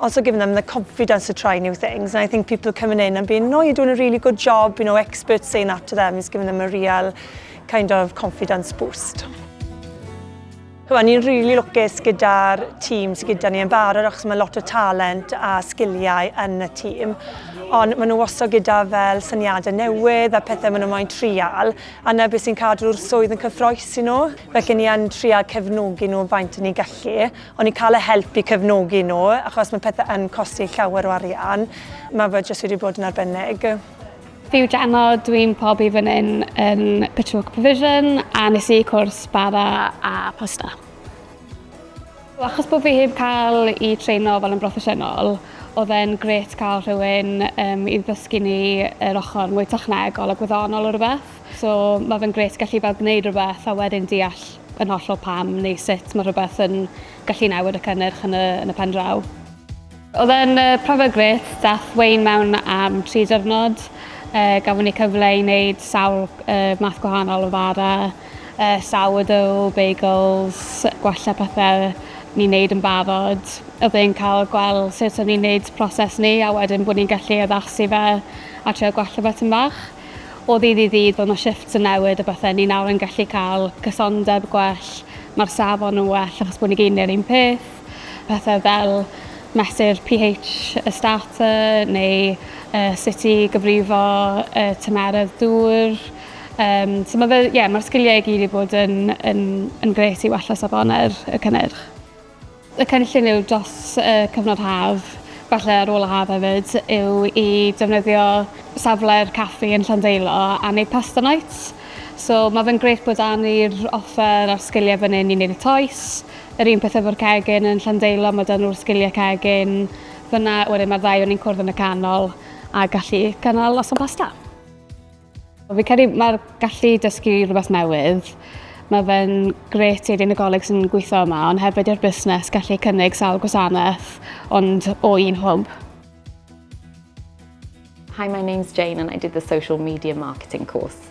also giving them the confidence to try new things. And I think people coming in and being, no, you're doing a really good job, you know, experts saying that to them is giving them a real kind of confidence boost. Wel, ni'n rili really lwcus gyda'r tîm sydd gyda ni yn barod achos mae lot o talent a sgiliau yn y tîm. Ond maen nhw wastad gyda fel syniadau newydd a pethau maen nhw moyn trial. A na beth sy'n cadw'r swydd yn cyffroes i nhw. Felly ni yn trial cefnogi nhw faint ni'n gallu. O'n i'n cael y help i cefnogi nhw, achos mae pethau yn costi llawer o arian. Mae fe jyst wedi bod yn arbennig. Fi yw Gemma, dw i'n profi fan hyn yn Pitchfork Provision a nes i cwrs bara a pasta. Achos bod fi heb cael i treino fel yn broffesiynol, oedd e'n grêt cael rhywun i ddysgu ni yr ochr mwy technegol a gwyddonol o rywbeth. So mae fe'n grêt gallu fel gwneud rhywbeth a wedyn deall yn hollol pam neu sut mae rhywbeth yn gallu newid y cynnyrch yn y, yn y pen draw. Oedd e'n uh, profiad grêt, dath Wayne mewn am tri diwrnod. Uh, gafon ni cyfle i wneud sawl uh, math gwahanol o fara, uh, sourdough, bagels, gwella pethau ni'n neud yn barod. Oedd e'n cael gweld sut o'n ni'n neud proses ni a wedyn bod ni'n gallu addasu fe a trio gwella beth yn fach. O ddydd i ddydd bod 'na shifts yn newid a bethe, ni nawr yn gallu ca'l cysondeb gwell, ma'r safon yn well achos bo' ni gyd neu'r un peth, pethe fel mesur Pee Heitch y starter neu yy sut i gyfrifo yy tymeredd dŵr yym so ma' fe ie ma'r sgilie i gyd 'di bod yn yn yn grêt i wella safonau'r y cynnyrch. Y cynllun yw dros y cyfnod haf, falle ar ôl y haf hefyd, yw i defnyddio safle'r caffi yn Llandeilo am eu pasta nights. So mae fe'n grêt bod 'da ni'r offer a'r sgiliau fan hyn i wneud y toes. Yr un peth efo'r cegin yn Llandeilo, mae 'da nhw'r sgiliau cegin fan'na. Wedyn mae'r ddau o ni'n cwrdd yn y canol a gallu cynnal noson pasta. Fi credu mae'r gallu i dysgu rhywbeth newydd, mae fe'n gret i unigolyn sy'n gweithio yma, ond hefyd i'r busnes gallu cynnig sawl gwasanaeth, ond o un hwb. Hi, my name's Jane and I did the social media marketing course.